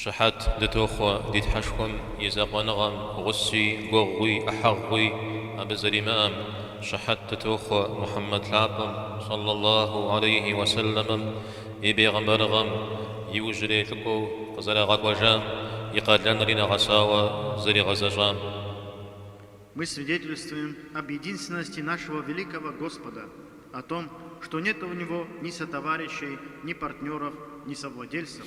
Щыхьэт дытохъуэ ди Тхьэшхуэм и закъуэныгъэм, гъуси, гуэгъуи, ӏыхьэгъуи абы зэримыӏэм. Щыхьэт дытохъуэ Мухьэммэд лъапӏэм, сӏаллэ Аллаху алейхьи уэ сэлэмэм, и бегъымбарыгъэм, иужьрей лӏыкӏуэу къызэрагъэкӏуэжам, и къалэнри нэгъэсауэ зэригъэзэщӏам. Мы свидетельствуем об единственности нашего великого Господа, о том, что нет у Него ни сотоварищей, ни партнеров, ни совладельцев.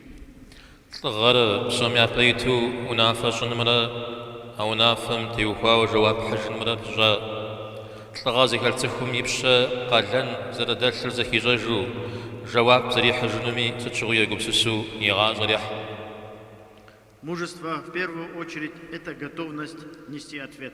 Лӏыгъэр псом япэ иту унафэ щӏынымрэ а унафэм теухуауэ жэуап хьыжынымрэ пыщӏа. Лӏыгъэ зыхэлъ цӏыхум и пщэ къалэн зэрыдэлъыр зэхищӏэжу, жэуап зэрихьыжынуми сыт щыгъуи егупсысу и гъащӏэр ехь. Мужество, в первую очередь, это готовность нести ответ.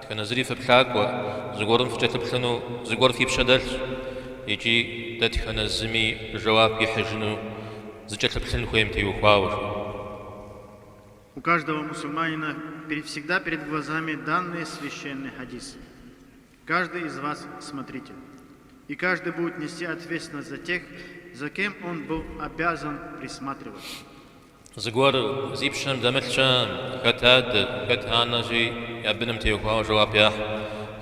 Дэтхэнэ зыри фыплъакӏуэ, зыгуэрым фыкӏэлъыплъыну зыгуэр фи пщэ дэлъ, икӏи дэтхэнэ зыми жэуап ихьыжыну зыкӏэлъыплъын хуейм теухуауэ жиӏэу. У каждого мусульманина всегда перед глазами данный священный хадис, Каждый из вас смотритель, и каждый будет нести ответственность за тех, за кем он был обязан присматривать. Зыгуэр зи пщэм дэмылъ щыӏэ? Хэт адэ, хэт анэщи я быным теухуауэ жэуап ехь,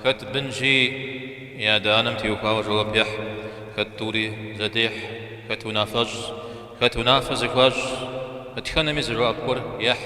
хэт бынщи я адэ-анэм теухуауэ жэуап ехь, хэт тӏури зэдехь, хэт унафэщӏщ, хэт унафэ зыхуащӏщ, дэтхэнэми зы жэуап гуэр ехь.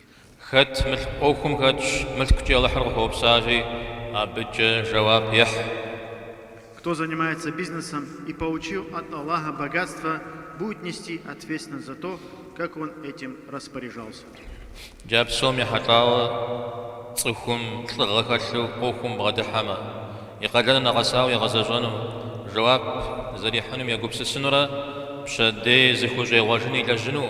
Хэт мылъку ӏуэхум хэтщ, мылъкукӏи Алыхьыр къыхуэупсащи, абыкӏэ жэуап ехь. Кто занимается бизнесом и получил от Аллаха богатство, будет нести ответственность за то, как он этим распоряжался. Джа псом ехьэлӏауэ цӏыхум лӏыгъэ хэлъу ӏуэхум бгъэдыхьэмэ, и къалэныр нэгъэсауэ егъэзэщӏэну, жэуап зэрихьынум егупсысынурэ пщэдей зыхущӏегъуэжын илэжьыну.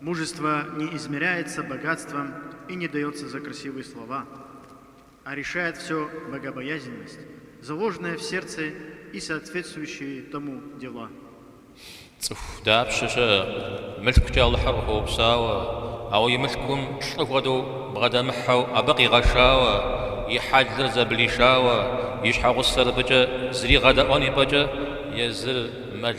Мужество не измеряется богатством и не дается за красивые слова, а решает всё богобоязненность, заложенная в сердце и соответствующие тому дела. Цӏыху дапщэ щыӏэ мылъкукӏэ Алыхьыр къыхуэупсауэ, ауэ и мылъкум лӏы хуэдэу бгъэдэмыхьэу абы къигъэшауэ, и хьэлыр зэблишауэ, и щхьэгъусэр абыкӏэ зригъэдэӏуэн ипӏэкӏэ езыр мэл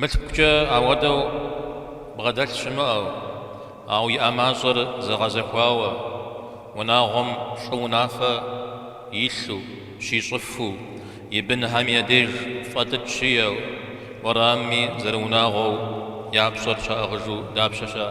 Мылъкукӏэ ауэдэу бгъэдэлъ щымыӏэу, ауэ иӏэ мащӏэр зэгъэзэхуауэ, унагъуэм лӏы унафэ илъу, щищӏыфу, и бынхэм я деж фӏэлӏыкӏ щиӏэу, уэрамми зэрыунагъуэу я пщӏэр щаӏыгъыжу дапщэ щыӏэ?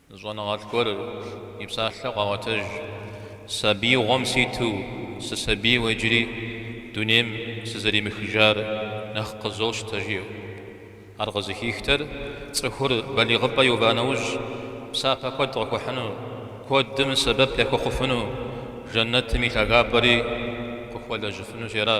Щӏэныгъэлӏ гуэр и псалъэу къагъуэтэж, Сабиигъуэм ситу сысабийуэ иджыри дунейм сызэремыхыжар нэхъ къызощтэ, жиӏэу. Ар къызыхихтэр цӏыхур балигъыпӏэ иува нэужь, псапэ куэд къыхуэхьыну, куэдым сэбэп яхуэхъуфыну, жэнэтым и лъагапӏэри къыхуэлэжьыфыну жера.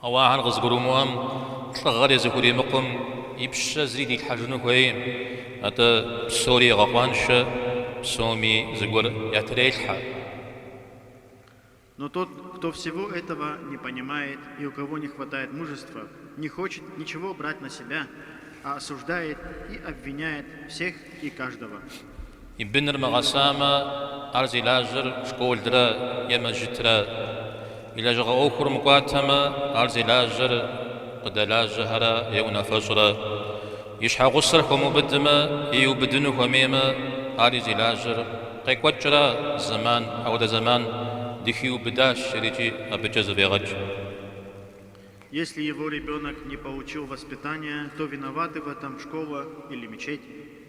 Ауэ ахэр къызгурымыӏуэм, лӏыгъэри зыхуримыкъум, и пщэ зыри дилъхьэжыну хуейкъым. Атӏэ, псори егъэкъуаншэ, псоми зыгуэр ятрелъхьэ. Но тот, кто всего этого не понимает и у кого не хватает мужества, не хочет ничего брать на себя, а осуждает и обвиняет всех и каждого. И быныр мыгъэсамэ, ар зи лажьэр школра е мэжьытра. И лэжьыгъэ ӏуэхур мыкӏуатэмэ, ар зи лажьэр къыдэлажьэхэра е унафэщӏра. И щхьэгъусэр хуэмыубыдмэ е иубыдыну хуэмеймэ, ари зи лажьэр къекӏуэкӏра зэман, апхуэдэ зэман дыхиубыдащ жери икӏи абыкӏэ зэфӏегъэкӏ. Если его ребенок не получил воспитания, то виноваты в этом школа или мечеть?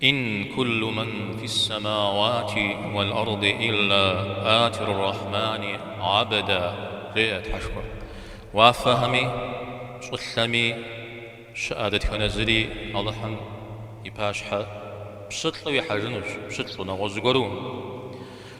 Ин куллу ман фис-самауати уал-арди илла атир-рахмани гӏабда, жеӏэ Тхьэшхуэ. Уафэхэми, щӏылъэми щыӏэ дэтхэнэ зыри Алыхьым и пащхьэ пщылӏу ихьэжынущ, пщылӏу, нэгъуэщӏ зыгуэру.